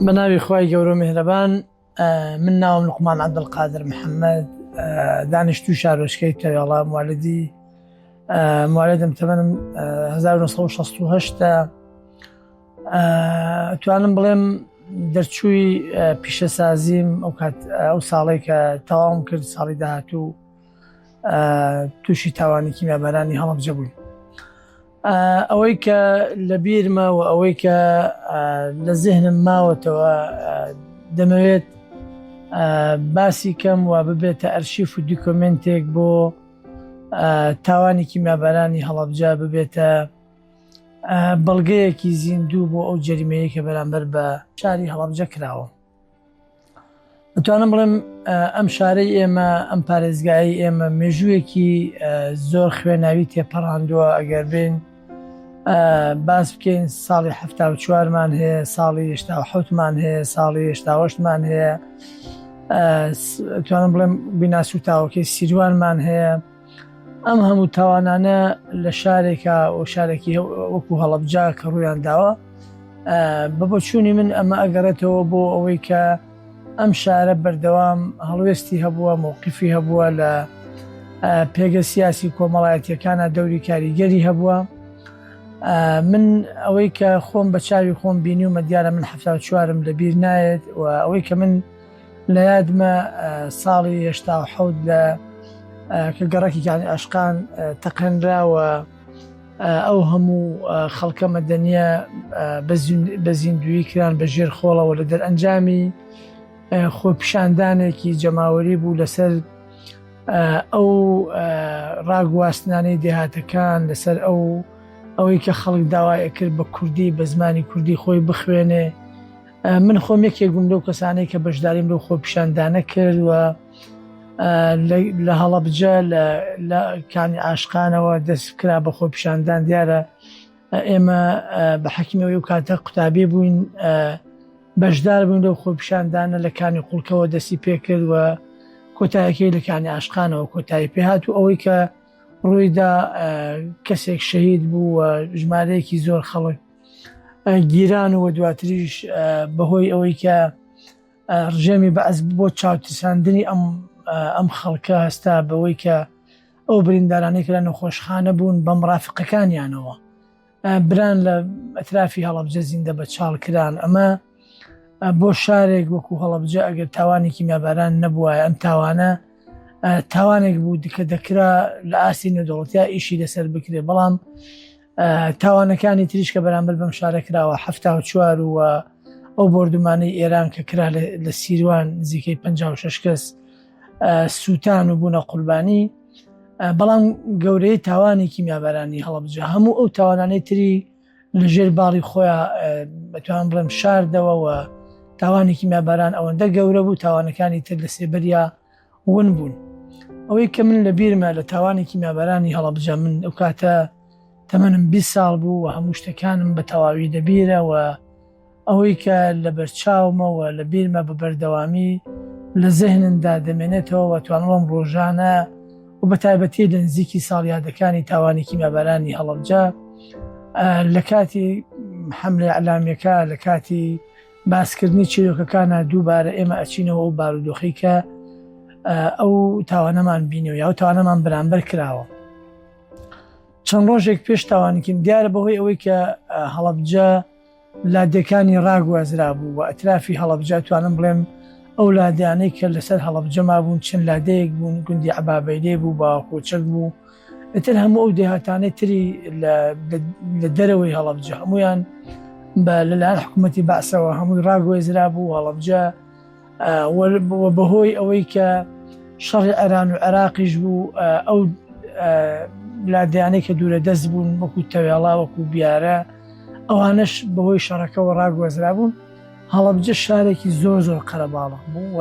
بە ناوی خوای گەورە و میهرەبان من ناوم لوقمان عەبدولقادر محەمەد، دانیشتووی شارۆچکەی تەوێڵە، موالدی موالدم تەمەنم 1968 توانم بڵێم دەرچووی پیشەسازیم ئەو کات ئەو ساڵی کە تەواوم کرد ساڵی داهاتوو تووشی تاوانی کیمیابارانی هەڵەبجە بووین. ئەوەی کە لە بیرمە و ئەوەی کە لە زهنم ماوەتەوە دەمەوێت باسی کەم و ببێتە ئەرشیف و دیکۆمنتێک بۆ تاوانێکی مابارانی هەڵبجا ببێتە بەڵگەیەکی زیندوو بۆ ئەو جەریمەیە کە بەرامبەر بە شاری هەڵبجە کراوە ئەتوانم بڵێم ئەم شارەی ئێمە ئەم پارێزگایی ئێمە مێژوویەکی زۆر خوێناوی تێپەڕاندووە ئەگەر بین باس بکەین ساڵی ه چوارمان هەیە ساڵی هشتا حوتمان هەیە ساڵی هشتاوەشتمان هەیە توانم بڵێم بیناسوتاوەکەی سیروانمان هەیە ئەم هەموو تاوانانە لە شارێکە و شارێکی وەکو هەڵبجا کە ڕویان داوە بە بۆچوونی من ئەمە ئەگەڕێتەوە بۆ ئەوەی کە ئەم شارە بەردەوام هەڵوێستی هەبووە مووقفی هەبووە لە پێگە سیاسی کۆمەڵایەتیەکانە دەوری کاریگەری هەبووە من ئەوەی کە خۆم بە چاوی خۆم بینی و مەدیارە من ه چوارم لەبییر نایێت و ئەوەی کە من لە یادمە ساڵی هەشتا و حەوت لە کە گەڕەکی کانی ئاشقان تەقێنرا و ئەو هەموو خەڵکە مەدەنیە بە زیندوی کران بە ژێر خۆڵەوە لە دەرئەنجامی خۆپیشاندانێکی جەماوەری بوو لەسەر ئەو ڕاگواستنانەی دێهاتەکان لەسەر ئەو ئەوەی کە خەڵک داوایە کرد بە کوردی بە زمانی کوردی خۆی بخوێنێ من خۆم یەکێک بووم لەو کەسانەی کە بەشداریم لەو خۆپیشاندانە کرد و لە هەڵەبجە لە کانی ئاشقانەوە دەست کرا بە خۆپیشاندان دیارە ئێمە بە حەکیمەوەی و کاتە قوتابی بووین بەشدار بوون لەو خۆپیشاندانە لە کانی قوڵکەوە دەستی پێکرد و کۆتایەکەی لە کانی ئاشقانەوە کۆتایی پێهات و ئەوەی کە ڕوویدا کەسێک شەهید بوو و ژمارەیەکی زۆر خەڵک گیران و دواتریش بەهۆی ئەوەی کە ڕژێمی بەعس بۆ چاوترساندنی ئەم ئەم خەڵکە هەستا بەوەی کە ئەو بریندارانێک لە نەخۆشخانە بوون بە مڕافقەکانیانەوە بران لە ئەترافی هەڵبجە زیندە بە چاڵ کران ئەمە بۆ شارێک وەکو هەڵبجە ئەگەر تاوانێکی میاباران نەبووە ئەم تاوانە تاوانێک بوو دیکە دەکرا لە ئاستی نەدەوڵەتیا ئیشی لەسەر بکرێ بەڵام تاوانەکانی تریش کە بەرامبەر بەم شارە کراوە ه چوار و ئەو بردومانەی ئێران کە کرا لە سیروان نزیکەی 56 کەس سووتان و بوونە قوربانی بەڵام گەورەی تاوانی کیمیابارانی هەڵبجە هەموو ئەو تاوانانەی تری لەژێر باڵی خۆیان بەتوان بڵێم شاردەوەەوە تاوانێکی میاباران ئەوەندە گەورە بوو تاوانەکانی تر لە سێبەریا ون بوون ئەوەی کە من لە بیرمە لە تاوانی کیمیابارانی هەڵەبجە من ئەو کاتە تەمەنم 20 ساڵ بوو و هەموو شتەکانم بە تەواوی دەبیرەوە ئەوەی کە لە بەرچاومەوە لە بیرمە بە بەردەوامی لە زەهنمدا دەمێنێتەوە توانوەم ڕۆژانە و بە تایبەتی لە نزیکی ساڵیادەکانی تاوانی کیمیابارانی هەڵەبجە لە کاتی حملە علامیەکە لە کاتی باسکردنی چیرۆکەکانە دووبارە ئێمە ئەچینەوە ئەو بارودۆخی کە ئەو تاوانەمان بینەوە یا تاوانەمان بەرامبەر کراوە چەند ڕۆژێک پێش تاوانکیم دیارە بەهۆی ئەوەی کە هەڵبجە لادێکانی ڕاگوازرا بوو و ئەترافی هەڵبجە توانم بڵێم ئەو لادیانەی کە لەسەر هەڵبجەما بوون چەند لادەیەک بوون گوندی عبابەیدێ بوو باوەکۆچەک بوو ئیتر هەموو ئەو دێهاتانەی تری لە دەرەوەی هەڵەبجە هەمویان بە لەلایەن حکوومەتتی باسەوە هەمووی ڕاگوێزرا بوو هەڵەبجە بەهۆی ئەوەی کە شەڕی ئەران و عێراقیش بوو ئەو لادیانەی کە دوورە دەست بوون وەکو تەوێڵا وەکو بیارە ئەوانش بەهۆی شەڕەکەەوە ڕاگوەزرا بوون هەڵەبجە شارێکی زۆر زۆر قەرەباڵق بوو و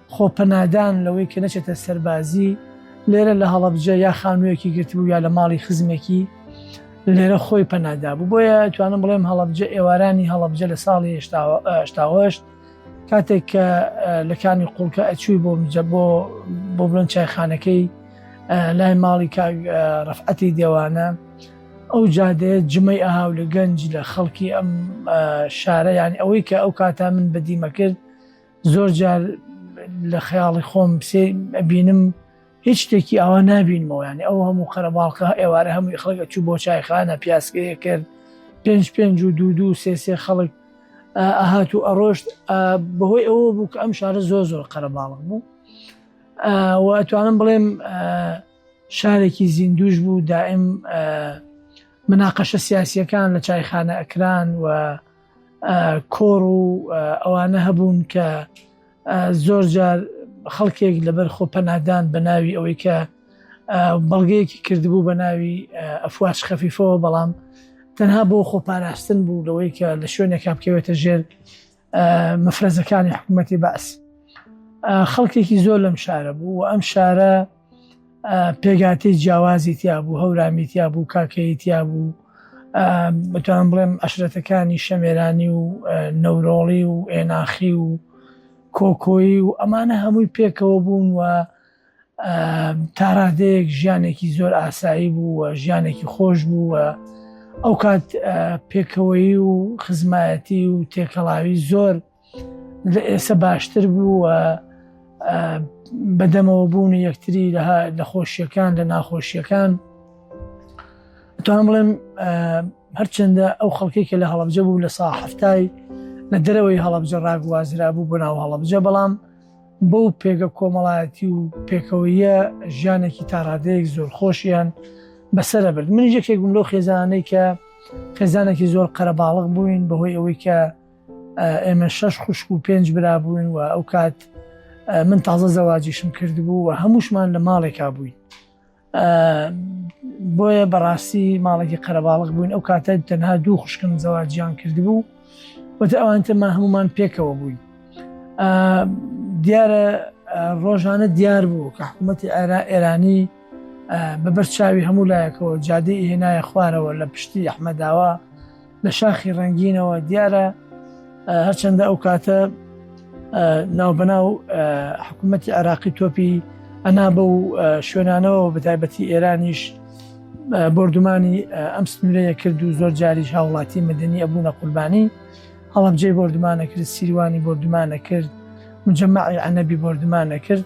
خۆ پەنادان لەوەی کە نەچێتە سەربازی لێرە لە هەڵەبجە یا خانوویەکی گرتبوو یا لە ماڵی خزمێکی لێرە خۆی پەنادا بوو بۆیە توانم بڵێم هەڵەبجە ئێوارانی هەڵەبجە لە ساڵی هشتاهشت کاتێک کە لە کانی قوڵکە ئەچووی بۆ میجە بۆ بۆ بڵند چایخانەکەی لای ماڵی کاک ڕفعەتی دێوانە ئەو جادەیە جمەی ئاهاو لە گەنج لە خەڵکی ئەم شارە یان ئەوەی کە ئەو کاتا من بەدیمە کرد زۆر جار لە خەیاڵی خۆم سێ ئەبینم هیچ شتێکی ئاوا نبینمەوە ینی ئەو هەموو قەرەباڵقە ئێوارە هەمووی خەڵگە چوو بۆ چایخانە پیاسکەیە کرد پێنج پێنج و دوو دوو سێ سێ خەڵک ئەهات و ئەڕۆشت بەهۆی ئەوە بوو کە ئەم شارە زۆر زۆر قەرەباڵق بوو و ئەتوانم بڵێم شارێکی زیندوش بوو دائم مناقەشە سیاسیەکان لە چایخانە ئەکران و کۆڕ و ئەوانە هەبوون کە زۆر جار خەڵکێک لەبەر خۆ پەنادان بە ناوی ئەوەی کە بەڵگەیەکی کردبوو بە ناوی ئەفواش خەفیفەوە بەڵام تەنها بۆ خۆپاراستن بوو لەوەی کە لە شوێنێکا بکەوێتە ژێر مەفرەزەکانی حکوومەتی باس خەڵکێکی زۆر لەم شارە بوو و ئەم شارە پێکهاتەی جیاوازی تیابوو هەورامی تیابوو کاکەیی تیابوو بەتوان بڵێم عشرەتەکانی شەمێرانی و نەورۆڵی و ئێناخی و کۆکۆیی و ئەمانە هەمووی پێکەوە بوون و تاڕادەیەک ژیانێکی زۆر ئاسایی بوو و ژیانێکی خۆش بوو و ئەو کات پێکەوەی و خزمایەتی و تێکەڵاوی زۆر لە ئێسە باشتر بوو بەدەمەوە بوون و یەکتری لە خۆشیەکان لە ناخۆشیەکان توان بڵێم هەرچەندە ئەو خەڵکی کە لە هەڵبجە بوو لە سا هەفتای لە دەرەوەی هەڵبجە ڕاگوازرا بوو بۆ ناو هەڵبجە بەڵام بەو پێگە کۆمەڵایەتی و پێکەوەیە ژیانێکی تاڕادەیەک زۆر خۆشیان بەسرە برد من یەکێک بووم لەو خێزانەی کە خێزانێکی زۆر قەرەباڵغ بووین بەهۆی ئەوەی کە ئێمە شەش خوشک و پێنج برا بووین و ئەو کات من تازە زەواجیشم کردبوو و هەمووشمان لە ماڵێکا بووین بۆیە بەڕاستی ماڵێکی قەرەباڵق بووین ئەو کاتە تەنها دوو خوشکم زەواجیان کردبوو وتە ئەوانتەما هەمومان پێکەوە بووین دیارە ڕۆژانە دیار بوو کە حکوومەتی ئارا ئێرانی بەبەر چاوی هەموو لایەکەوە جادی هێنایە خوارەوە لە پشتی ئەحمەداوە لە شاخی ڕنگینەوە دیارە هەرچەندە ئەو کاتە ناوبەناو حکوومەتی عراقی تۆپی ئەنا بە و شوێنانەوە بە تایبەتی ئێرانیش بردومانی ئەم سنورەیە کرد و زۆر جاریش هاوڵاتی مدنی ئەبوونە قوربانی هەڵبجێ بردومانە کرد سیروانی بردومانە کرد مجممەعی ئەنەبی بردومانە کرد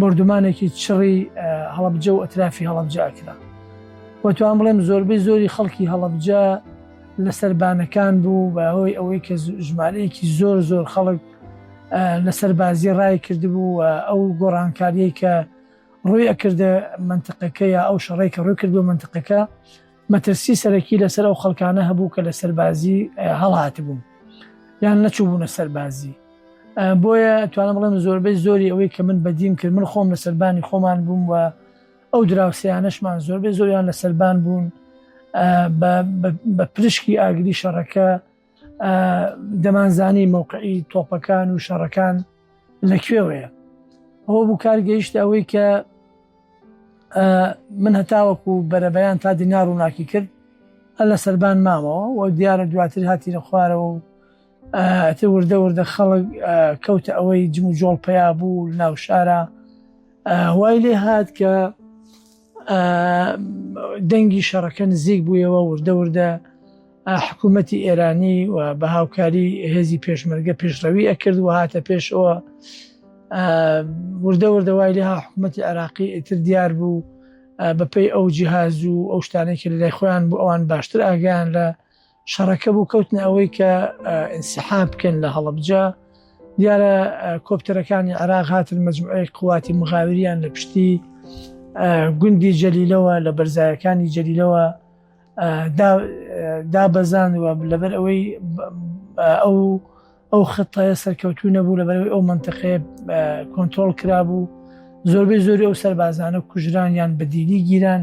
بۆردومانێکی چڕی هەڵەبجە و ئەترافی هەڵەبجە ئەکرا و توان بڵێم زۆربەی زۆری خەڵکی هەڵەبجە لەسەر بانەکان بوو بە هۆی ئەوەی کە ژمارەیەکی زۆر زۆر خەڵک لەسەر بازی ڕای کردبوو و ئەو گۆڕانکاریەی کە ڕووی ئەکردە منتقەکە یا ئەو شەڕێک کە ڕووی کردو منتقەکە مەترسی سەرەکی لەسەر ئەو خەڵکانە هەبوو کە لە سەربازی هەڵهاتبوون یان نەچووبوونە سەربازی بۆیە توانە بڵێن زۆربەی زۆری ئەوەی کە من بەدیم کرد من خۆم لە سەربانی خۆمان بووم و ئەو دراوسیانەشمان زۆربەی زۆریان لە سەربان بوون بە پرشکی ئاگری شەڕەکە دەمانزانی مەوقعی تۆپەکان و شەڕەکان لە کوێوەیە ئەوە بوو کار گەیشت ئەوەی کە من هەتاوەکو بەرەبەیان تا دینا ڕووناکی کرد هە لە سەربان مامەوە و دیارە دواتر هاتی لە خوارەوە و ئەتە وردە وردە خەڵک کەوتە ئەوەی جم و جۆڵ پیا بوو ناو شارە هوای لێ هاات کە دەنگی شەڕەکە نزیک بوویەوە وردە وردە حکوومەتی ئێرانی و بە هاوکاری هێزی پێشمەرگە پێشڕەوی ئەکرد و هاتە پێشەوە وردە وردە وای لێ ها حکوومەتی عراقی ئیتر دیار بوو بەپی ئەو جیهاز و ئەو شتانێکی لای خۆیان بۆ ئەوان باشتر ئاگیان لە شەڕەکە بوو کەوتنە ئەوەی کە ئینسحاب بکەن لە هەڵبجە دیارە کۆپتەرەکانی عراق هاتن مجموعی قواتی مغاوریان لە پشتی گوندی جەلیلەوە لە بەرزایەکانی جەلیلەوە دابەزان و لەبەر ئەوەی ئەو ئەو خەتایە سەرکەوتو نەبوو لەبەرەوەی ئەو منتەقەیە کۆنتترۆل کرابوو زۆربەی زۆری ئەو سەربازانە کوژران یان بەدیلی گیران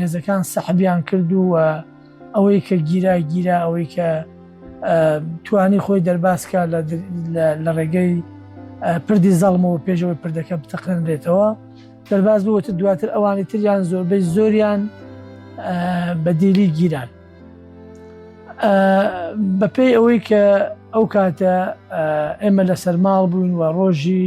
هێزەکان سەحبیان کرد و ئەوەی کە گیرا گیرا ئەوەی کە توانی خۆی دەرباسکە لە ڕێگەی پردی زەڵمەوە پێشەوەی پردەکە بتەقێنرێتەوە دەرباز بووتە دواتر ئەوانی تریان زۆربەی زۆریان بەدیلی گیران بەپێی ئەوەی کە ئەو کاتە ئێمە لە سەرماڵ بووین و ڕۆژی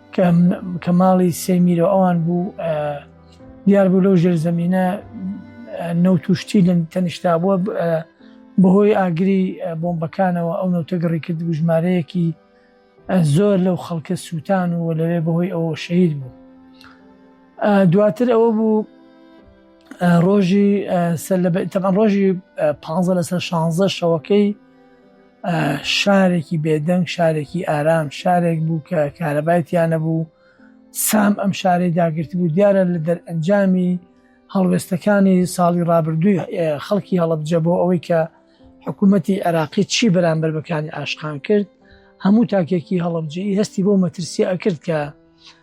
کە ماڵی سێ میرۆ ئەوان بوو دیار بوو لەو ژێرزەمینە نەوت و شتی لە تەنیشتا بووە بەهۆی ئاگری بۆمبەکانەوە ئەو نەوتە گەڕی کرد بوو ژمارەیەکی زۆر لەو خەڵکە سووتان و لەوێ بەهۆی ئەوە شەید بوو دواتر ئەوە بوو ڕۆژی سەر لە تەمان ڕۆژی پ لەسەر شانزە شەوەکەی شارێکی بێدەنگ، شارێکی ئارام، شارێک بوو کە کارەبای تیا نەبوو، سام ئەم شارەی داگرتبوو، دیارە لە دەرئەنجامی هەڵوێستەکانی ساڵی ڕابردووی خەڵکی هەڵەبجە بۆ ئەوەی کە حکوومەتی عێراقی چی بەرامبەر بەکانی ئاشقان کرد، هەموو تاکێکی هەڵەبجەیی هەستی بۆ مەترسییە ئەکرد کە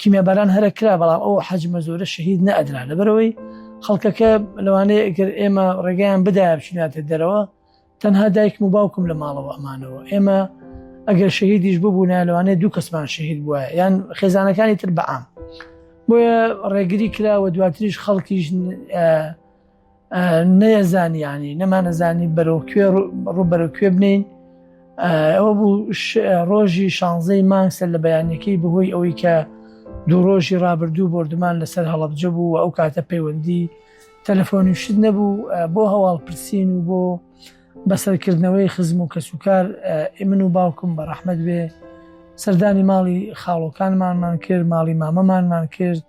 کیمیاباران هەرە کرا بەڵام ئەو حەجمە زۆرە شەهید نەدرا لەبەرەوەی خەڵکەکە لەوانەیە ئەگەر ئێمە ڕێگەیان بدایە بچیناتە دەرەوە تەنها دایکم و باوکم لە ماڵەوە ئەمانەوە ئێمە ئەگەر شەهیدیش ببوونا لەوانەیە دوو کەسمان شەهید بووە یان خێزانەکانی تر بەعام بۆیە ڕێگری کراوە دواتریش خەڵکیش نەیەزانیانی نەمانەزانی بەرەو کوێ ڕوبەرە کوێ بنین ئەوە بوو ڕۆژی شانزەی مانگسەر لە بەیانەکەی بەهۆی ئەوەی کە دوو ڕۆژی ڕابردوو بردمان لەسەر هەڵبجە بوو و ئەو کاتە پەیوەندی تەلەفۆنی شت نەبوو بۆ هەواڵ پرسین و بۆ بەسەرکردنەوەی خزم و کەسوکار ئمن و باوکم بە ڕەحمد بێ سەردانی ماڵی خاڵۆکانمانمان کرد ماڵی مامەمانمان کرد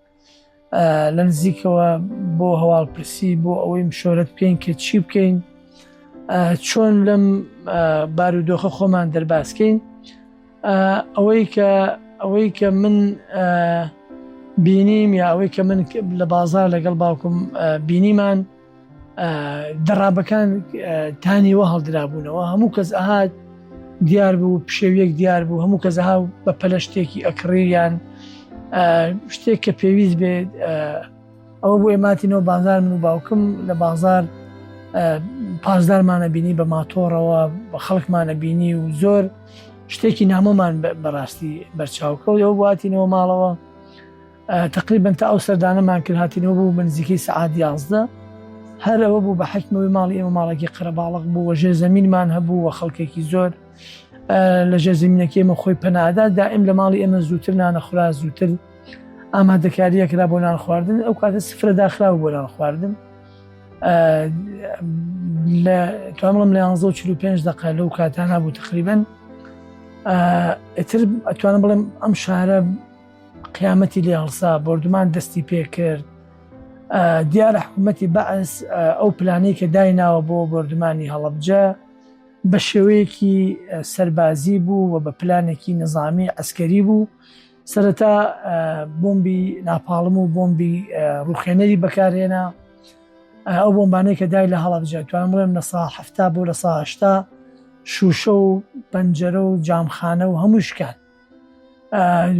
لە نزیکەوە بۆ هەواڵپرسی بۆ ئەوەی مشۆرت بکەین کە چی بکەین چۆن لەم بارودۆخە خۆمان دەرباسکەین ئەوەی کە ئەوەی کە من بینیم یا ئەوەی کە من لە بازار لەگەڵ باوکم بینیمان دەڕابەکان تانیوە هەڵدرابوونەوە هەموو کەس ئەهات دیار بوو پشێویەک دیار بوو هەموو کەس ئەها بە پەلە شتێکی ئەکڕیان شتێک کە پێویست بێت ئەوە بۆیە ماتینەوە بازار من و باوکم لە بازار پازدارمانە بینی بە ماتۆڕەوە بە خەڵکمانە بینی و زۆر شتێکی نامۆمان بەڕاستی بەرچاوکەوت ئەو واتینەوە ماڵەوە تەقریبەن تا ئەو سەردانەمان کرد هاتینەوە بوو بە نزیکەی سەعات یازدە هەر ئەوە بوو بە حکمەوەی ماڵی ئێمە ماڵێکی قەرەباڵق بوو وە ژێ زمینمان هەبوو وە خەڵکێکی زۆر لە ژێ زمینەکەی ئمە خۆی پەنادا دائم لە ماڵی ئێمە زووتر نانەخورا زووتر ئامادەکاریەکرا بۆ نان خواردن ئەو کاتە سفرە داخرا و بۆ نان خواردن لە توانڵم لە 1945 دق لەو کاتانە بوو تقریبن ئەتر ئەتوانم بڵێم ئەم شارە قیامەتی لێ هەڵسا بۆردومان دەستی پێ کرد دیارە حکوومەتی بەعس ئەو پلانەی کە دایناوە بۆ بۆردمانی هەڵبجە بە شێوەیەکی سەربازی بوو و بە پلانێکی نظامی ئەسکەری بوو سەرەتا بۆمبی ناپاڵم و بۆمبی ڕوخێنەری بەکارهێنا ئەو بۆمبانەی کە دای لە هەڵبجە توان بڵێم لە سا هەفتا بۆ لە ساهشتا شوشە و پەنجەرە و جامخانە و هەمووشکات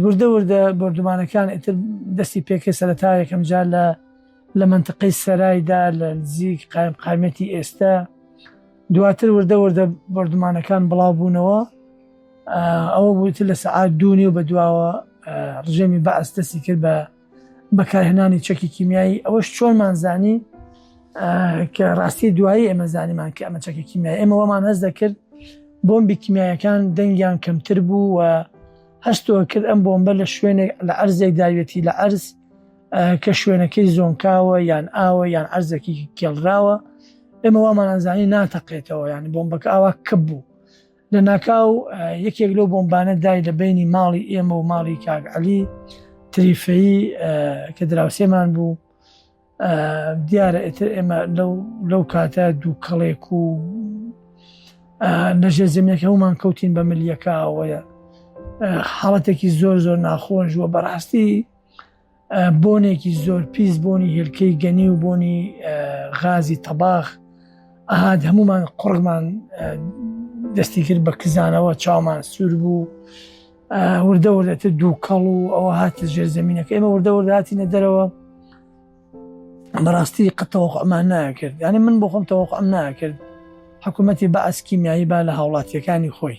وردە وردە بردومانەکان ئتر دەستی پێکرد سەرەتا یەکەم جار لە لە منتقەی سەرایدا لە نزیک قایم قامەتی ئێستا دواتر وردە وردە بردومانەکان بڵاو بوونەوە ئەوە بووتر لە سعات دوونی و بە دواوە ڕژێمی بە ئەستەسی کرد بە بەکارهێنانی چەکی کیمیایی ئەوەش چۆنمان زانی کە ڕاستی دوایی ئێمە زانیمان کە ئەمە چەکی کیمیای ئێمە وەمان هەز دەکرد بۆمبی کیمیایەکان دەنگیان کەمتر بوو و هەستەوە کرد ئەم بۆمبە لە شوێنێک لە ئەرزێک داوێتی لە ئەرز کە شوێنەکەی زۆنکاوە یان ئاوە یان ئەرزەکی کێڵراوە ئێمە وامانانزانی ناتەقێتەوە ینی بۆمبەکە ئاوا کە بوو لە ناکاو یەکێک لەو بۆمبانە دای لە بینی ماڵی ئێمە و ماڵی کاک علی تریفەیی کە دراوسێمان بوو دیارە ئێتر ئێمە لەو کاتە دوو کەڵێک و لەژێ زمینەکە هەومان کەوتین بە ملیەکەوەیە حاڵەتێکی زۆر زۆر ناخۆش وە بەڕاستی بۆنێکی زۆر پیس بۆنی هێلکەی گەنی و بۆنی غازی تەباخ ئاهات هەمومان قڕمان دەستی کرد بە کزانەوە چاومان سوور بوو وردە وردەتە دوو کەڵ و ئەوە هاتە ژێر زمینەکە ئێمە وردە ورداتینە دەرەوە بەڕاستی قەتەوەخمان ناکرد ینی من بۆ خۆم تەوەخم ناکرد حکوومەتی بە ئەسکیمیایی با لە هاوڵاتیەکانی خۆی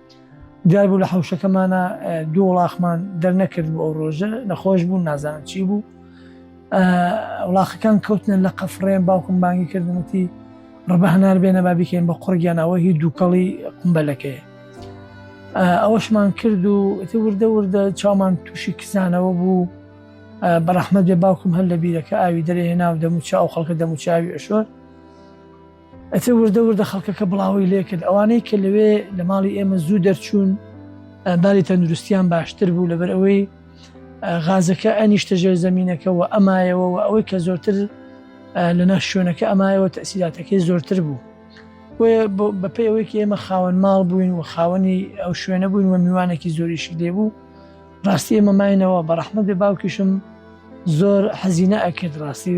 دیار بوو لە حوشەکەمانە دوو وڵاخمان دەرنەکرد بۆ ئەو ڕۆژە نەخۆش بوون نازان چی بوو وڵاخەکان کەوتنە لە قەفڕێن باوکم بانگی کردنەتی ڕبە هەنار بێنە با بکەین بە قڕگیانەوە هی دووکەڵی قمبەلەکەی ئەوەشمان کرد و ئەتی وردە وردە چامان تووشی کزانەوە بوو بەڕەحمە دێ باوکم هەر لە بیرەکە ئاوی دەرێ هێنا و دەموچە ئەو خەڵکە دەموچاوی ئەشۆر ئەتر وردە وردە خەڵکەکە بڵاوەی لێکرد ئەوانەی کە لەوێ لە ماڵی ئێمە زوو دەرچوون بالی تەندروستیان باشتر بوو لەبەر ئەوەی غازەکە ئەنیشتە ژێر زمینەکە و ئەمایەوە و ئەوەی کە زۆرتر لە ناش شوێنەکە ئەمایەوە تەسیلاتەکەی زۆرتر بوو بەپی ئەوەیەکی ئێمە خاوەن ماڵ بووین و خاوەنی ئەو شوێنە بووین و میوانێکی زۆریشی لێبوو ڕاستی ئێمە ماینەوە بە ڕەحمە بێ باوکیشم زۆر حەزینە ئەکرد ڕاستی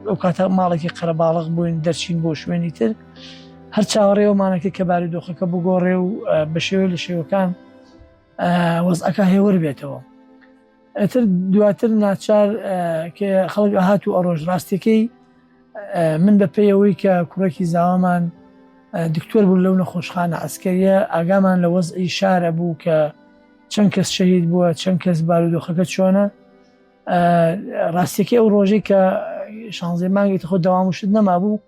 ئەو کاتە ماڵێکی قەرەباڵق بووین دەرچین بۆ شوێنی تر هەر چاوەڕێەوەمانەکە کە باری دۆخەکە بگۆڕێ و بە شێوە لە شێوەکان وەزعەکە هێوەر بێتەوە ئەتر دواتر ناچار کە خەڵک ئەهات و ئەڕۆژ ڕاستەکەی من بە پێیەوەی کە کوڕێکی زاوامان دکتۆر بوو لەو نەخۆشخانە ئەسکەریە ئاگامان لە وەزعی شارە بوو کە چەند کەس شەهید بووە چەند کەس بارودۆخەکە چۆنە ڕاستێکی ئەو ڕۆژەی کە شانزێ مانگێکی خۆ داوام و شت نەمابوو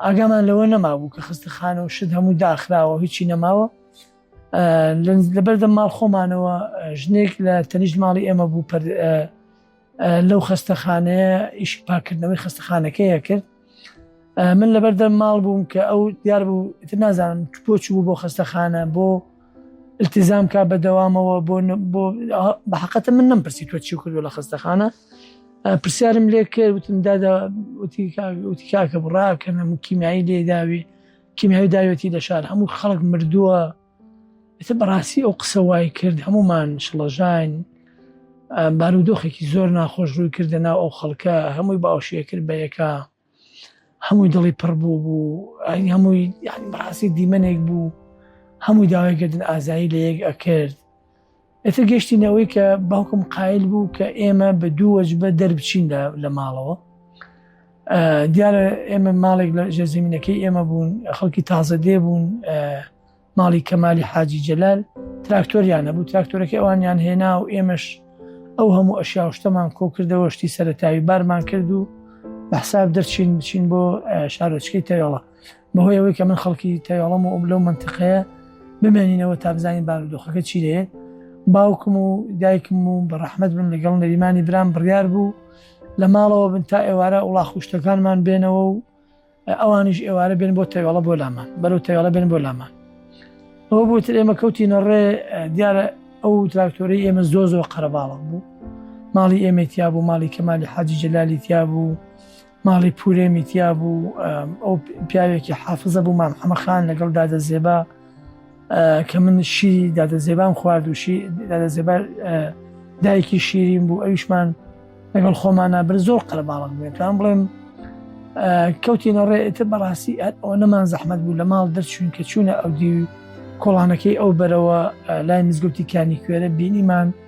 ئاگامان لەوە نەمابوو کە خستە خانە و شت هەموو داخراوە هیچی نەماوە لەبەردەم ماڵ خۆمانەوە ژنێک لە تەنیشت ماڵی ئێمە بوو لەو خەستەخانەیە ئیشی پاکردنەوەی خەستەخانەکەیە کرد من لەبەردەم ماڵ بووم کە ئەو دیار بوو تر نازانم بۆ چ بوو بۆ خەستەخانە بۆ التزام کا بەدەوامەوە بۆ بۆ بەحقەتە من نم پرسی تۆ چی کردو لە خستەخانە پرسیارم لێ کرد وتم داداوتی کاکە بڕاکەنە کیمیایی لێداوی کیمیاوی داوێتی لە شار هەموو خەڵک مردووە ئیتر بەڕاستی ئەو قسە وای کرد هەمومان شڵەژاین بارودۆخێکی زۆر ناخۆش ڕووی کردە ناو ئەو خەڵکە هەمووی باوشێ کرد بە یەکە هەمووی دڵی پڕ بوو بوو ئەنی هەمووی بەڕاستی دیمەنێک بوو هەمووی داوای گردن ئازایی لە یەک ئەکرد ئێتر گەشتین ئەوەی کە باوکم قایل بوو کە ئێمە بە دوو وەجبە دەربچین لە ماڵەوە دیارە ئێمە ماڵێک لە ژێ زمینەکەی ئێمە بوون خەڵکی تازە دێ بوون ماڵی کەمالی حاجی جەلال تراکتۆریان نەبوو تراکتۆرەکە ئەوانیان هێنا و ئێمەش ئەو هەموو ئەشیا شتەمان کۆ کردەوە شتی سەرەتاوی بارمان کرد و بەحساب دەرچین بچین بۆ شارۆچکەی تەوێڵە بەهۆی ئەوەی کە من خەڵکی تەواڵم و ئەم لەو منتیقەیە بمێنینەوە تا بزانین بارودۆخەکە چی لێ باوکم و دایکم و بە ڕەحمەت بن لەگەڵ نەریمانی برام بڕیار بوو لە ماڵەوە بن تا ئێوارە وڵا خوشتەکانمان بێنەوە و ئەوانیش ئێوارە بێن بۆ تەواڵە بۆ لامان بەرەو تەواڵە بێن بۆ لامان ئەو بۆتر ئێمە کەوتینە ڕێ دیارە ئەو تراکتۆری ئێمە زۆ زۆر قەرەباڵم بوو ماڵی ئێمەتیا بوو ماڵی کەمالی حاجی جەلالی تیا بوو ماڵی پورێ میتیا بوو ئەو پیاوێکی حافزە بوو مام حەمەخان لەگەڵ دادە زێبا کە من شی دادە زێبام خواردوشی دادە زێبار دایکی شیرین بوو ئەویشمان لەگەڵ خۆمانە بر زۆر قەرباڵق بێتوان بڵێم کەوتینە ڕێتە بەڕاستی ئەو نەمان زەحمت بوو لە ماڵ دەرچوون کە چوونە ئەو دی کۆڵانەکەی ئەو بەرەوە لای مزگوتی کانی کوێرە بینیمان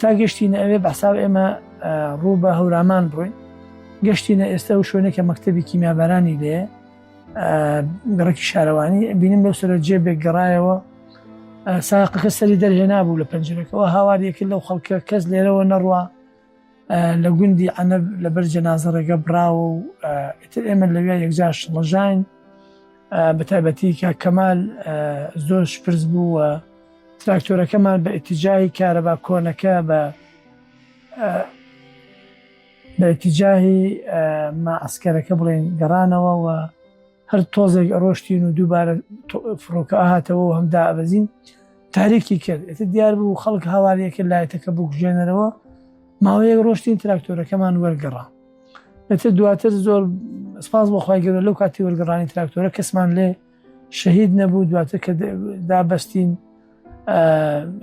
تا گەشتینە ئەوێ بەساو ئێمە ڕوو بە هەورامان بڕۆین گەشتینە ئێستا و شوێنێکە مەکتتەبی کیمیابارانی لێ گەڕکی شارەوانی بینیم لەو سەر جێ بێک گەڕایەوە ساقەکە سەری دەرهێنا بوو لە پەنجەکەەوە هاواریەکە لەو خەڵکە کەس لێرەوە نەڕوە لە گوندی ئەە لەبەر جەنازەڕێگە براوە و ئیتر ئێمە لەوێ یەکجاش ڵژین بەتایبەتی کاک کەمال زۆر شپرز بوو و تراکتۆرەکەمان بە ئتیجاهی کارەبا کۆنەکە بە بە ئتیجاهی مەعسکەرەکە بڵێن گەڕانەوە و هەر تۆزێک ڕۆشتین و دووبارە فڕۆکە هاتەوە و هەم دابەزین تاریکی کرد ئێتە دیار بوو خەڵک هاواریەکە لایەتەکە بکوژێنەرەوە ماوەیەک ڕۆشتین تراکتۆرەکەمان وەرگەڕا ئەتر دواتر زۆر سپاس بۆ خخوای گەورە لەو کاتی وەرگڕانی تراکتۆرە کەسمان لێ شەهید نەبوو دواتر کە دابستین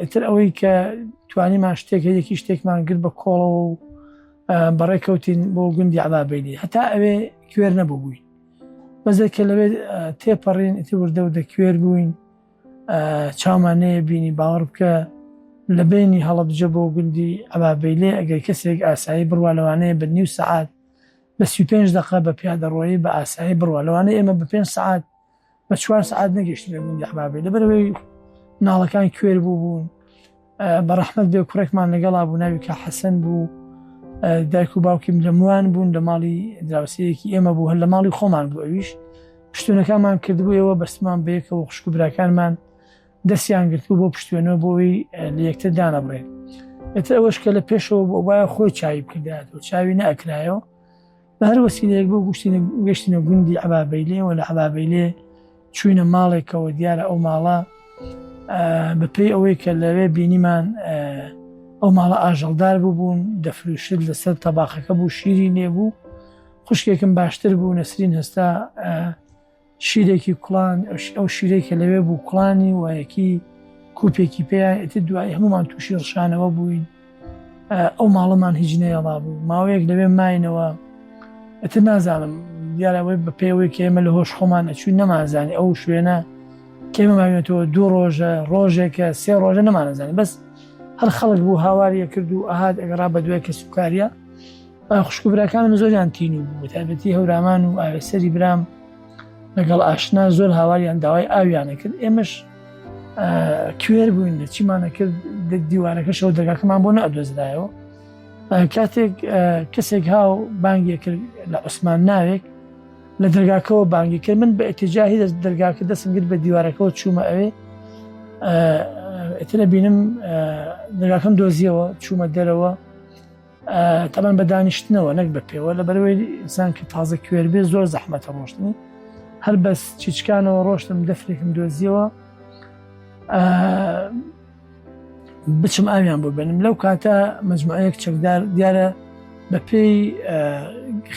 ئەتر ئەوەی کە توانیمان شتێک هەیەکی شتێکمان گرت بە کۆڵەوە و بەڕێ کەوتین بۆ گوندی عڵابینی هەتا ئەوێ کوێر نەبوو بووین بەزێ کە لەوێ تێپەڕین ئیتر وردە و دەکوێر بووین چاومان نەیە بینی باوەڕ بکە لە بینی هەڵەبجە بۆ گوندی ئەبابەیلێ ئەگەر کەسێک ئاسایی بڕوا لەوانەیە بە نیو سەعات بە سی پێنج دەقە بە پیادەڕۆیی بە ئاسایی بڕوا لەوانە ئێمە بە پێنج سعات بە چوار سعات نەگەشتینە گوندی ئەبابەیلە بەرەوەی ناڵەکان کوێر بوو بوون بەڕەحمەت بێ کوڕێکمان لەگەڵا بوو ناوی کە حەسەن بوو دایک و باوکیم لە موان بوون لە ماڵی دراوسەیەکی ئێمە بوو هەر لە ماڵی خۆمان بوو ئەویش پشتونەکانمان کردبووەوە بەستمان بەیەکەوە خوشک و براکانمان دەستیان گرتو بۆ پشتێنەوە بۆی لە یەکتر دانەبڕێن ئێتر ئەوەش کە لە پێشەوە بۆ وایە خۆی چاوی بکردایەوە چاوی نەکرایەوە بە هەر وەسیلەیەک بۆ گوشتینە گەشتینە گوندی عبابەیلێەوە لە عبابەیلێ چوینە ماڵێکەوە دیارە ئەو ماڵە بەپی ئەوەی کە لەوێ بینیمان ئەو ماڵە ئاژەڵدار ببوون دەفروشت لەسەر تەباخەکە بوو شیری نێبوو خوشکێکم باشتر بوو نەسرین هەستا شیرێکی کوڵان ئەو شیرەی کە لەوێ بوو کوڵانی وایەکی کوپێکی پێیان ئێتر دوای هەمومان تووشی ڕشانەوە بووین ئەو ماڵەمان هیچ نەیەڵا بوو ماوەیەک لەوێ ماینەوە ئەتر نازانم دیارەوەی بە پێوەی کە ئێمە لە هۆش خۆمان ئەچوین نەمانزانانی ئەو شوێنە کێمەماوێتەوە دوو ڕۆژە ڕۆژێکە سێ ڕۆژە نەمانزانانی بەس هەر خەڵک بوو هاواریە کرد و ئاهات ئەگەڕا بە دوای کەسوکاریە خوشک و براکانم زۆریان تین و بوو تابەتی هەورامان و ئاوێسەری برام لەگەڵ ئاشنا زۆر هاواریان داوای ئاویانە کرد ئێمەش کوێر بووین لە چیمانە کرد دیوارەکەشەوە دەگاکەمان بۆ نەدۆزرایەوە کاتێک کەسێک هاو بانگێک کرد لە عوسمان ناوێک لە دەرگاکەەوە بانگی کرد من بە ئەتجاهی دەست دەرگاکە دەستم گرت بە دیوارەکەەوە چوومە ئەوێ ئەترە بینم دەگاکەم دۆزیەوە چوومە دەرەوە تەبەن بە دانیشتنەوە نەک بە پێوە لە بەرەوەی ئینسان کە تازە کوێر بێ زۆر زەحمەتە ڕۆشتنی هەر بەس چیچکانەوە ڕۆشتم دەفرێکم دۆزیەوە بچم ئاویان بۆ بێنم لەو کاتە مجموعەیەک چەکدار دیارە بە پێی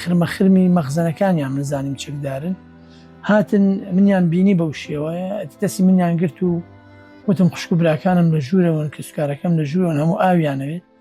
خرمەخرمی مەخزەنەکانیان منزانیم چەکدارن هاتن منیان بینی بەو شێوەیە دەستی منیان گرت و وتم خوشک و براکانم لە ژوورەوەن کەسکارەکەم لە ژوورەوەن هەموو ئاویانەوێت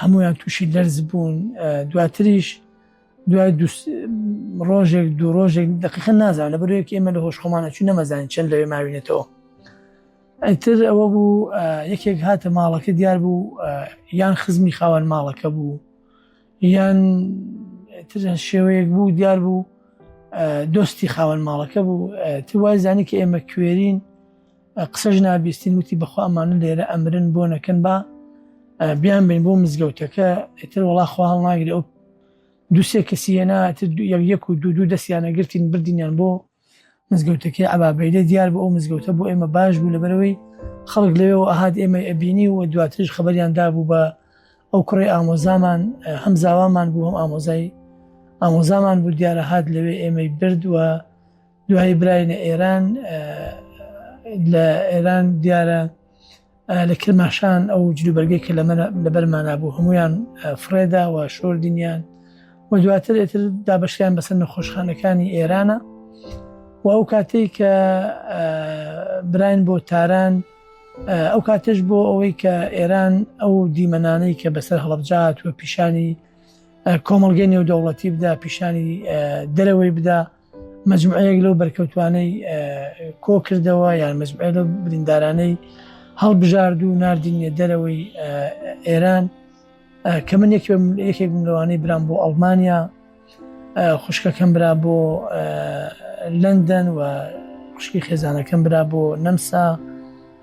هەمویان تووشی لەرز بوون دواتریش دوای ڕۆژێک دوو ڕۆژێک دقیقە نازان لە بەرێک ئێمە لە هۆش خۆمانە چون نەمەزانین چەند لەوێ ماوینێتەوە ئەتر ئەوە بوو یەکێک هاتە ماڵەکە دیار بوو یان خزمی خاوەن ماڵەکە بوو یان تر شێوەیەک بوو دیار بوو دۆستی خاوەن ماڵەکە بوو توای زانی کە ئێمە کوێرین قسەش نابیستین وتی بەخوا ئەمانە لێرە ئەمرن بۆ نەکەن با بیان بین بۆ مزگەوتەکە ئتر وڵا خوا هەڵناگری ئەو دوسێ کەسیەنا یەک و دوو دوو دەستیانە گرتین بردینیان بۆ مزگەوتەکەی عبابەیدە دیار بۆ ئەو مزگەوتە بۆ ئێمە باش بوو لەبەرەوەی خەڵک لەوێ و ئەهات ئێمە ئەبینی و دواترش خبریان دابوو بە ئەو کوڕی ئامۆزامان هەم زاوامان بوو هەم ئامۆزای ئامۆزامان بوو دیارە هاات لەوێ ئێمەی بردووە دوایی براینە ئێران لە ئێران دیارە لە کرماشان ئەو جلوبەرگێک کە لە بەرمانە بوو هەمویان فرێداوە شۆر دینیان و دواتر ئێتر دابشیان بەسەر نەخۆشخانەکانی ئێرانە و ئەو کاتێک کە براین بۆ تاران ئەو کاتش بۆ ئەوەی کە ئێران ئەو دیمەنانەی کە بەسەر هەڵبجات و پیشانی کۆمەلگەی نێودەوڵەتی بدا پیشانی دەرەوەی بدا مجموعەیەک لەو بەرکەوتوانەی کۆ کردەوە یان مجموعە لە بریندارانەی هەڵبژارد و نردینە دەرەوەی ئێران کە من یەکێک لەوانەی برام بۆ ئەڵمانیا خوشکەکەم برا بۆ لەندەن و خوشکی خێزانەکەم برا بۆ نەمسا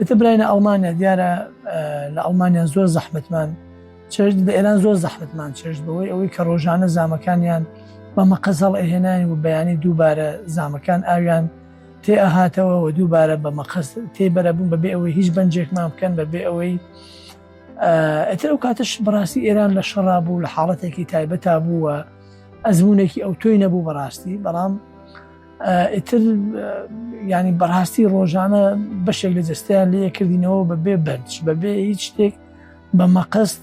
ئتە براینە ئەڵمانیا دیارە لە ئەڵمانیا زۆر زەحمتمان چێژ بە ئێران زۆر زەحمتمان چێژ بەوەی ئەوەی کە ڕۆژانە زامەکانیان بە مەقەزەڵ ئەهێنانی و بەیانی دووبارە زامەکان ئاویان تێ ئەهاتەوە و دووبارە بە مەقەس تێ بەرەبوون بەبێ ئەوەی هیچ بەنجێکمان بکەن بەبێ ئەوەی ئەتر ئەو کاتش بەڕاستی ئێران لە شەڕا بوو لە حاڵەتێکی تایبەتا بووە ئەزمونێکی ئەو تۆی نەبوو بەڕاستی بەڵام ئیتر ینی بەڕاستی ڕۆژانە بەشێک لە جستیان لە یەکردینەوە بە بێ بەنج بەبێ هیچ شتێک بە مەقەست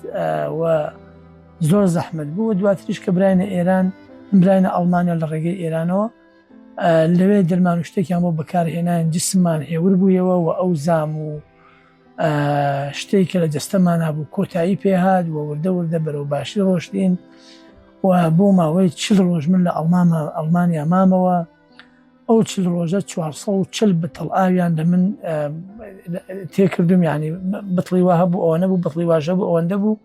زۆر زەحمت بوو دواتریش کە براینە ئێران براینە ئەڵمانیا لە ڕێگەی ئێرانەوە لەوێ دەرمان و شتێکیان بۆ بەکارهێنان جسممان هێور بوویەوە و ئەو زام و شتێک کە لە جەستەمانا بوو کۆتایی پێهات و وردە وردە بەرەو باشی ڕۆشتین و بۆ ماوەی چل ڕۆژ من لە ئەڵمامە ئەڵمانیا مامەوە ئەو چل ڕۆژە 440 بتڵ ئاویان لە من تێکردم ینی بتڵی وە هەبوو ئەوە نەبوو بتڵی واژە بوو ئەوەندە بوو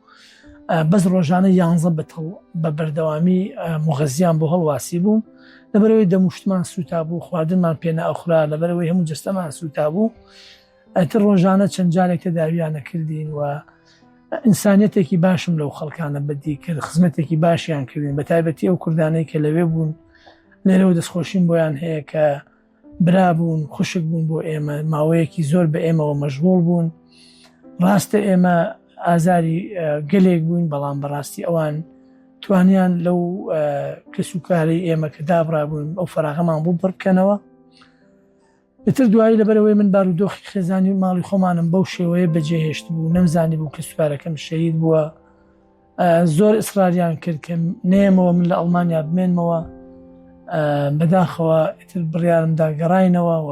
بەس ڕۆژانە یانزە بتڵ بە بەردەوامی مغەزیان بۆ هەڵواسی بوو لەبەرەوەی دەموشتمان سوتا بوو خواردنمان پێنا ئەخرا لەبەرەوەی هەموو جستەمان سوتا بوو ئەتر ڕۆژانە چەند جارێک تەداویانە کردین و ئینسانیتێکی باشم لەو خەڵکانە بەدی کرد خزمەتێکی باشیان کردین بە تایبەتی ئەو کوردانەی کە لەوێ بوون لێرەوە دەستخۆشیم بۆیان هەیە کە برابوون خوشک بوون بۆ ئێمە ماوەیەکی زۆر بە ئێمەوە مەژغۆڵ بوون ڕاستە ئێمە ئازاری گەلێک بووین بەڵام بەڕاستی ئەوان توانیان لەو کەسوکاری ئێمە کە دابرابوون ئەو فراغەمان بوو بڕکەنەوە ئیتر دوایی لەبەرەوەی من بارودۆخی خێزانی و ماڵی خۆمانم بەو شێوەیە بەجێهێشت بوو نەمزانی بوو کە سوپارەکەم شەید بووە زۆر ئیسراریان کرد کە نێمەوە من لە ئەڵمانیا بمێنمەوە بەداخەوە ئیتر بڕیارمدا گەڕینەوە و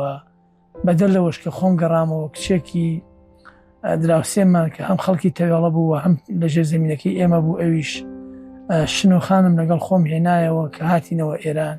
بەدەر لەوەش کە خۆم گەڕامەوە کچێکی دراوسێمان کە هەم خەڵکی تەوێڵە بوو و هەم لەژێ زمینەکەی ئێمە بوو ئەویش شنۆخانم لەگەڵ خۆم هێنایەوە کە هاتینەوە ئێران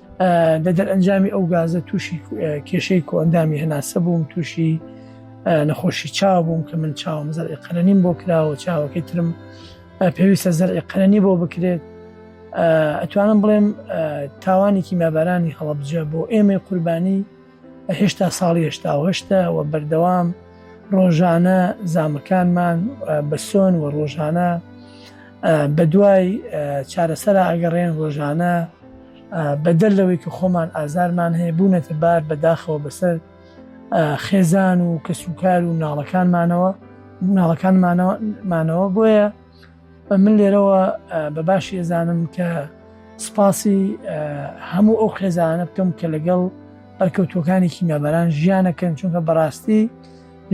لە دەرئەنجامی ئەو گازە تووشی کێشەی کۆئەندامی هەناسە بووم تووشی نەخۆشی چاو بووم کە من چاوم زەرعی قەرەنیم بۆ کراوە چاوەکەی ترم پێویستە زەرعی قەرەنی بۆ بکرێت ئەتوانم بڵێم تاوانێکی مابارانی هەڵەبجە بۆ ئێمەی قوربانی هێشتا ساڵی هێشتا و هەشتە و بەردەوام ڕۆژانە زامەکانمان بەسۆن و ڕۆژانە بە دوای چارەسەر ئەگەڕێن ڕۆژانە بەدەر لەوەی کە خۆمان ئازارمان هەیە بوونەتە بار بەداخەوە بەسەر خێزان و کەسوکار و ناڵەکانمانەوە ناڵەکانمانەوە مانەوە بۆیە من لێرەوە بە باشی ئەزانم کە سپاسی هەموو ئەو خێزانە بکەم کە لەگەڵ بەرکەوتوەکانی کیمابەران ژیانەکەن چونکە بەڕاستی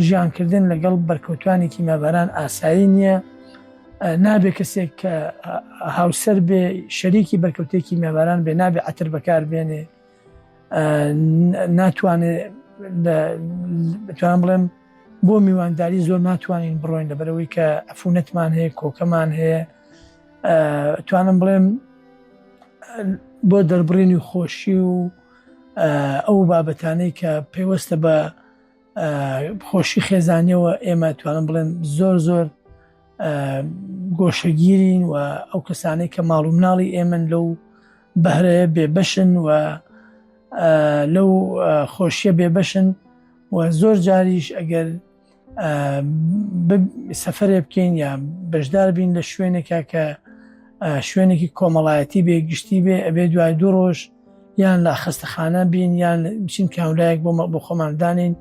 ژیانکردن لەگەڵ بەرکەوتانی کیمابەران ئاسایی نییە نابێ کەسێک کە هاوسەر بێ شەریکی بەرکەوتێکی مێباران بێ نابێ ئەتر بەکار بێنێ ناتوانێت بتوان بڵێم بۆ میوانداری زۆر ناتوانین بڕۆین لەبەرەوەی کە ئەفونەتمان هەیە کۆکەمان هەیە توانم بڵێم بۆ دەربڕینی خۆشی و ئەو بابەتانەی کە پێوەستە بە خۆشی خێزانیەوە ئێمە توانم بڵێن زۆر زۆر گۆشەگیرین و ئەو کەسانەی کە ماڵ و مناڵی ئێمن لەو بەهرەیە بێبەشن و لەو خۆشیە بێبەشن و زۆر جاریش ئەگەر سەفرێ بکەین یا بەشدار بین لە شوێنێکە کە شوێنێکی کۆمەڵایەتی بێ گشتی بێ ئەبێ دوای دوو ڕۆژ یان لە خستەخانە بین یان بچین کاولایەک بۆ بۆ خۆماندانین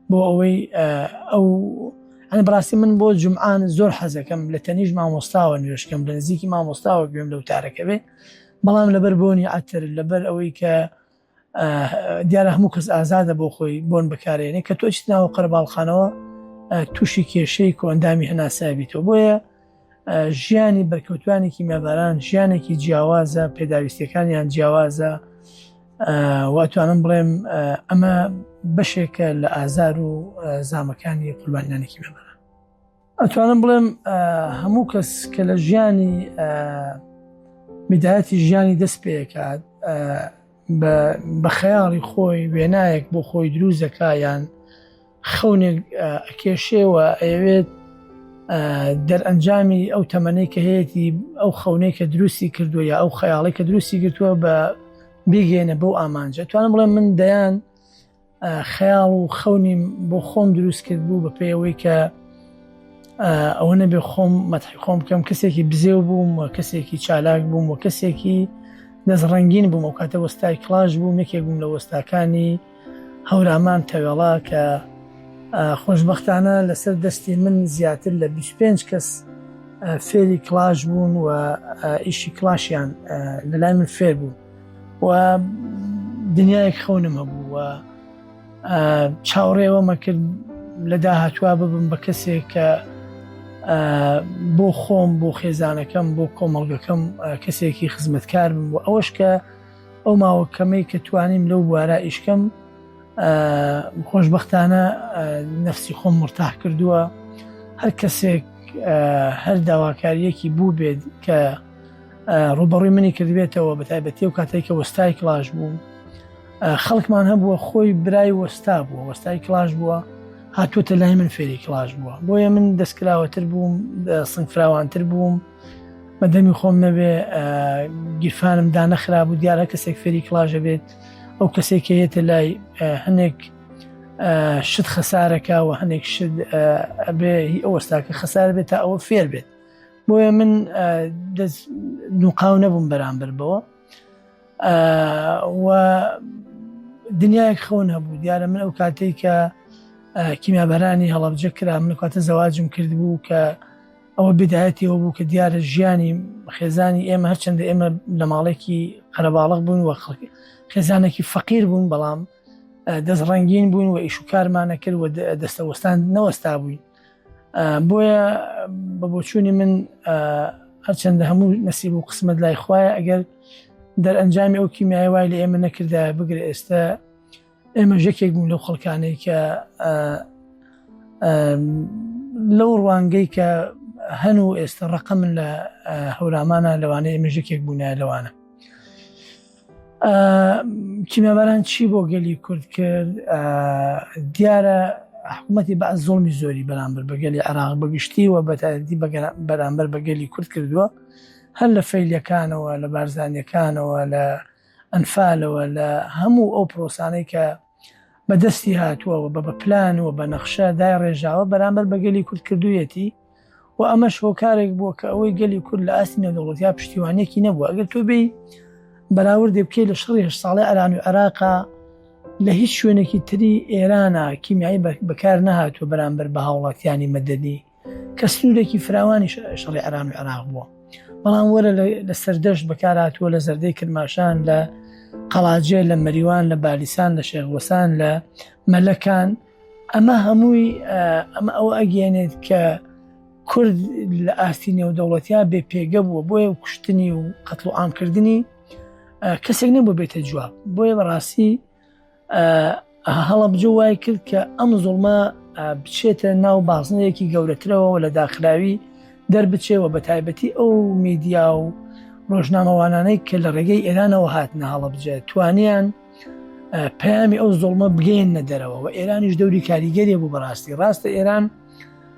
بۆ ئەوەی ئەو ئەنی بڕاستی من بۆ جمعان زۆر حەزەکەم لە تەنیش مامۆستاوە نوێشکەم لە نزیکی مامۆستاوە گوێم لەو تارەکەوێ بەڵام لەبەر بۆنی عەتر لەبەر ئەوەی کە دیارە هەموو کەس ئازادە بۆ خۆی بۆن بکارێنێ کە تۆ چیت ناوە قەرباڵخانەوە تووشی کێشەی کۆندامی هەناسابییتەوە بۆیە ژیانی بەرکەوتوانێکی مەباران ژیانێکی جیاوازە پێداویستەکانیان جیاوازە واتوانم بڵێم ئەمە بەشێکە لە ئازار و زامەکانی قوربانیانێکی مەباران ئەتوانم بڵێم هەموو کەس کە لە ژیانی میدایەتی ژیانی دەست پێکات بە خەیاڵی خۆی وێنایەک بۆ خۆی دروزەکایان خەونێک کێشێەوە ئەوێت دەرئەنجامی ئەو تەمەەی کە هەیەی ئەو خەونەی کە دروستی کردووە یا ئەو خەیاڵی کە دروستی گرتووە بە بیگەێنە بەو ئامانجە توانم بڵێ من دەیان خەیاڵ و خەونیم بۆ خۆم دروست کرد بوو بە پێی ئەوەی کە ئەوە نەبێ خۆم مەتحی خۆم بکەم کەسێکی بزێو بووم و کەسێکی چالاک بووم و کەسێکی دەست ڕنگین بووم و کاتە وەستای کلاش بوو مێکێک بووم لە وەستاکانی هەورامان تەوێڵا کە خۆشببختانە لەسەر دەستی من زیاتر لە 25 کەس فێری کلاش بوون و ئیشی کلاشیان لەلای من فێر بوو و دنیایەک خەونم هەبوو و چاوڕێوەمە کرد لە داهاتوە ببم بە کەسێک کە بۆ خۆم بۆ خێزانەکەم بۆ کۆمەڵگەکەم کەسێکی خزمەتکار بم و ئەوەش کە ئەو ماوە کەمەی کە توانیم لەو بوارە ئیشکەم خۆشببختانە نفسی خۆم مرتاح کردووە هەر کەسێک هەر داواکاریەکی بوو بێت کە ڕووبەڕووی منی کردبێتەوە بە تایبەتی و کاتێک کە وەستای کلاش بوو خەڵکمان هەبووە خۆی برای وەستا بووە وەستای کلاش بووە هاتووتە لای من فێری کلاش بووە بۆیە من دەستکراوەتر بووم سنگفراوانتر بووم بە دەمی خۆم نەبێ گیرفانم دانەخرا بوو دیارە کەسێک فێری کلاژە بێت ئەو کەسێک کە هێتە لای هەنێک شت خەسارەکە و هەنێک شت ئەبێ هی ئەوەستاکە خەسار بێت تا ئەوە فێر بێت بۆیە من دەست نوقاو نەبووم بەرامبەر بەوە و دنیایەک خەون هەبوو دیارە من ئەو کاتێک کە کیمیابەرانی هەڵەبجە کرا من کاتە زەواجم کرد بوو کە ئەوە بدایەتەوە بوو کە دیارە ژیانی خێزانی ئێمە هەرچەندە ئێمە لە ماڵێکی قەرەباڵق بوون وە خەڵکی خێزانێکی فەقیر بوون بەڵام دەست ڕنگین بوون و ئیش و کارمانە کرد و دەستەوەستان نەوەستا بووین بۆیە بە بۆچوونی من هەرچەندە هەموو نسیب و قسمت لای خوایە ئەگەر دەرئەنجامی ئەو کیمیای وای لە ئێمە نەکردا بگرە ئێستا ئێمە ژەکێک بوون لەو خەڵکانەی کە لەو ڕوانگەی کە هەن و ئێستا ڕقە من لە هەورامانە لەوانەیە ئێمە ژەکێک بوونە لەوانە کیمەباران چی بۆ گەلی کورد کرد دیارە حکوومەتی بە زۆڵمی زۆری بەرامبەر بەگەلی عراق بەگشتی و بەتایدی بەرامبەر بەگەلی کورد کردووە هەر لە فەیلەکانەوە لە بارزانانیەکانەوە لە ئەنفالەوە لە هەموو ئەو پرۆسانەی کە بە دەستی هاتووە و بە بە پلان و بە نەخشە دایڕێژاوە بەرامبەر بە گەلی کورد کردوویەتی و ئەمەش هۆکارێک بووە کە ئەوەی گەلی کورد لە ئاستی نێودەوڵەتیا پشتیوانێکی نەبووە ئەگەر تۆ بێی بەراوردێ بکەی لە شەڕی هەشت ساڵی ئەران و عێراقا لە هیچ شوێنێکی تری ئێرانە کیمیایی بەکار نەهاتوە بەرامبەر بە هاوڵاتیانی مەدەنی کە سنوورێکی فراوانی شەڕی عێران و عێراق بووە بەڵام وەرە لە سەردەشت بەکاراتوە لە زەردەی کرماشان لە قەڵاجێ لە مەریوان لە بالیسان لە شێخوەسان لە مەلەکان ئەمە هەمووی ئەمە ئەو ئەگەێنێت کە کورد لە ئاستی نێودەوڵەتیا بێ پێگە بووە بۆیە و کوشتنی و قەتڵ و ئامکردنی کەسێک نەبوو بێتە جواب بۆیە بەڕاستی هەڵەبجە وای کرد کە ئەم زوڵمە بچێتە ناو بازنەیەکی گەورەترەوە و لە داخراوی دەربچێەوە بە تایبەتی ئەو میدیا و ڕۆژنامەوانانەی کە لە ڕێگەی ئێرانەوە هاتنە هەڵەبجە توانیان پامی ئەو زۆڵمە بگەێنە دەرەوە و ئێرانیش دەوری کاریگەری بوو بەڕاستی ڕاستە ئێران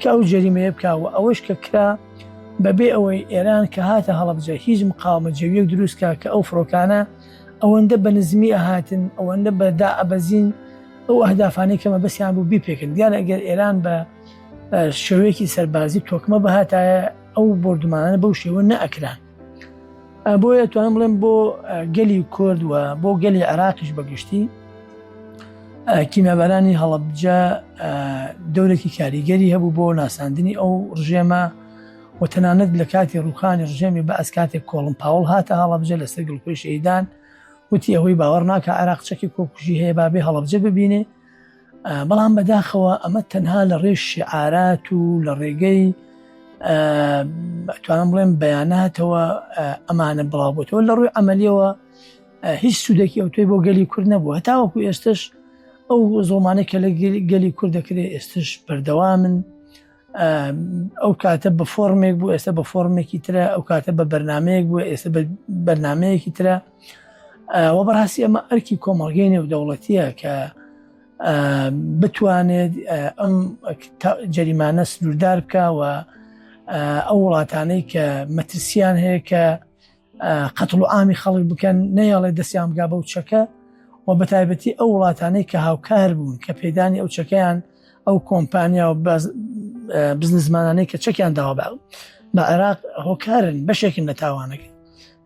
کە ئەو جەریمەیە بکا و ئەوەش کە کرا بەبێ ئەوەی ئێران کە هاتە هەڵەبجە هیچ مقاومە جەویەک دروست کا کە ئەو فڕۆکانە ئەوەندە بە نزمی ئەهاتن ئەوەندە بە دائەبەزین ئەو ئەهدافانەی کە مەبەستیان بوو بیپێکن دیارە ئەگەر ئێران بە شێوەیەکی سەربازی تۆکمە بهاتایە ئەو بۆردومانانە بەو شێوە نەئەکران بۆیە توانم بڵێم بۆ گەلی کورد و بۆ گەلی عراقیش بەگشتی کیمابارانی هەڵبجە دەورێکی کاریگەری هەبوو بۆ ناساندنی ئەو ڕژێمە و تەنانەت لە کاتی ڕوخانی ڕژێمی بە ئەس کاتێک کۆڵم پاوڵ هاتە هەڵبجە لەسەر گڵپی شەیدان وتی ئەوەی باوەڕ ناکە عراق چەکی کۆکوژی هەیە بابێ هەڵبجە ببینێ بەڵام بەداخەوە ئەمە تەنها لە ڕێژ شعارات و لە ڕێگەی توانم بڵێم بەیاناتەوە ئەمانە بڵاوبتەوە لە ڕووی ئەمەلیەوە هیچ سوودێکی ئەو توی بۆ گەلی کورد نەبووە تاوەکو ئێستش ئەو زۆمانە کە لە گەلی کورد دەکرێت ئێستش بەردەوامن ئەو کاتە بە فۆرمێک بوو ئێستا بە فۆرمێکی ترە ئەو کاتە بە بەرنمەیەک بوو ئێستا بە بەرنمەیەکی ترە وە بەڕاستی ئەمە ئەرکی کۆمەڵگەی نێودەوڵەتیە کە بتوانێت ئەم جەریمانە سنووردار بکەوە ئەو وڵاتانەی کە مەترسیان هەیە کە قەتڵ و ئامی خەڵک بکەن نەیەڵێ دەستیان بگا بەو چەکە و بە تایبەتی ئەو وڵاتانەی کە هاوکار بوون کە پێدانی ئەو چەکەیان ئەو کۆمپانیا و بزنزمانانەی کە چەکیان داوا باو بە عێراق هۆکارن بەشێکن لە تاوانەکە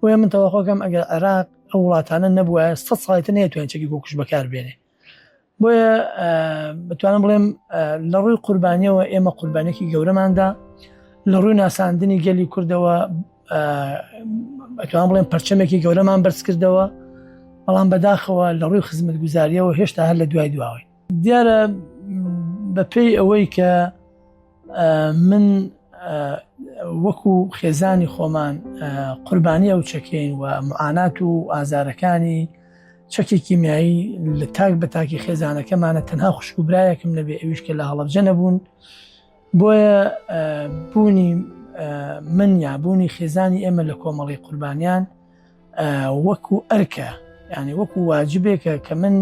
بۆیە من تەواخۆکەم ئەگەر عێراق ئەو وڵاتانە نەبووە سە ساڵیتە نێتوانین چەکی گۆکوش بەکار بێنێ بۆیە بتوانم بڵێم لە ڕووی قوربانیەوە ئێمە قوربانێکی گەورەماندا لە ڕووی ناساندنی گەلی کوردەوە بەتوان بڵێن پرچەمێکی گەورەمان بەرز کردەوە بەڵام بەداخەوە لە ڕووی خزمەت گوزاریەوە هێشتا هەر لە دوای دواوەی دیارە بەپێی ئەوەی کە من وەکو خێزانی خۆمان قوربانی ئەو چەکین و معانات و ئازارەکانی چەکی کیمیایی لە تاک بە تاکی خێزانەکەمانە تەنها خوشک و برایەکم نەبێ ئەویش کە لە هەڵبجە نەبوون بۆیە بوونی من یا بوونی خێزانی ئێمە لە کۆمەڵی قوربانیان وەکو ئەرکە ینی وەکو واجبێکە کە من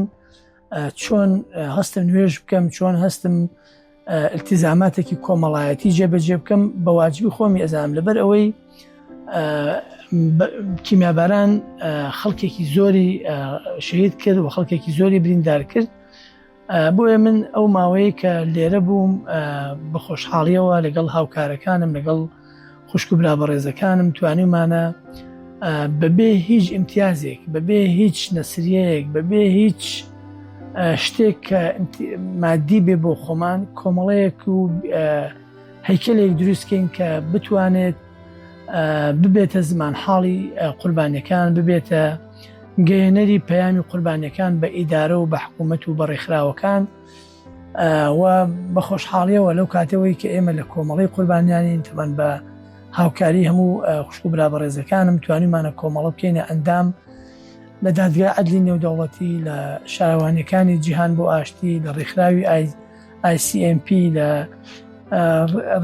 چۆن هەستم نوێژ بکەم چۆن هەستم التزاماتێکی کۆمەڵایەتی جێبەجێ بکەم بە واجبی خۆمی ئەزانم لەبەر ئەوەی کیمیاباران خەڵکێکی زۆری شەید کرد و خەڵکێکی زۆری بریندار کرد بۆیە من ئەو ماوەیە کە لێرە بووم بە خۆشحاڵیەوە لەگەڵ هاوکارەکانم لەگەڵ خوشک و برا بەڕێزەکانم توانیمانە بەبێ هیچ ئیمتیازێک بەبێ هیچ نەسریەیەک بەبێ هیچ شتێک کە مادی بێ بۆ خۆمان کۆمەڵەیەک و هەیکلێک دروستکەین کە بتوانێت ببێتە زمان حاڵی قوربانەکان ببێتە گەیەنەری پەیامی قوربانەکان بە ئیدارە و بە حکوومەت و بە ڕێکخراوەکان و بە خۆشحاڵیەوە لەو کاتەوەی کە ئێمە لە کۆمەڵی قوربانیانین تەمان بە هاوکاری هەموو خوشک و برا بەڕێزەکانم توانیمانە کۆمەڵە بکەینە ئەندام لە دادگا عدلی نێودەوڵەتی لە شارەوانیەکانی جیهان بۆ ئاشتی لە ڕێکخراوی ICMP لە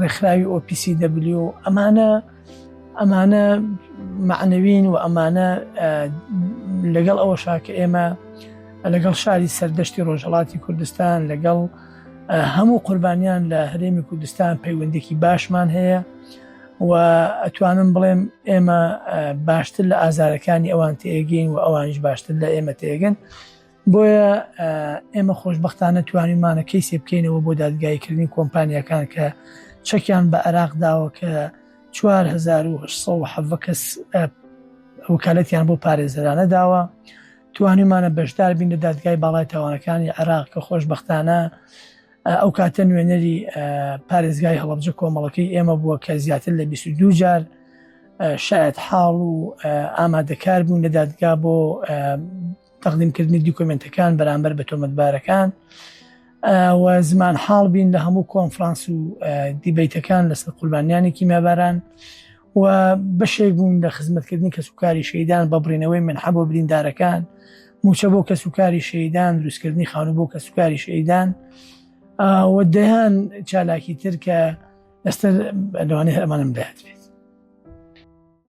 ڕێکخراوی OPCW ئەمانە ئەمانە معنەوین و ئەمانە لەگەڵ ئەوە شاکە ئێمە لەگەڵ شاری سەردەشتی ڕۆژهڵاتی کوردستان لەگەڵ هەموو قوربانیان لە هەرێمی کوردستان پەیوەندێکی باشمان هەیە و ئەتوانم بڵێم ئێمە باشتر لە ئازارەکانی ئەوان تێگەین و ئەوانش باشتر لە ئێمە تێگەن بۆیە ئێمە خۆشبەختانە توانیمانە کەیسێ بکەینەوە بۆ دادگایکردنی کۆمپانیەکان کە چەکیان بە عراق داوە کە 1970 کەس وکالەتیان بۆ پارێزەرانە داوە توانیمانە بەشدار بین لە دادگای باڵای تاوانەکانی عراق کە خۆشببختانە ئەو کاتە نوێنەری پارێزگای هەڵبجە کۆمەڵەکەی ئێمە بووە کە زیاتر لە 22 جار شاید حاڵ و ئامادەکار بوون لە دادگا بۆ تەقدیمکردنی دیکۆمنتەکان بەرامبەر بە تۆمەتبارەکان و زمان حاڵ بین لە هەموو کۆنفرانس و دیبیتەکان لەسەر قوربانیانی کیمیاباران و بەشێک بوون لە خزمەتکردنی کەس و کاری شەیدان بە بڕینەوەی من حەبۆ بریندارەکان موچە بۆ کەس و کاری شەیدان دروستکردنی خانوو بۆ کەس و کاری شەیدان و دەیان چالاکی تر کە ئێستا لەوانێ هەرمانم دەهات بێت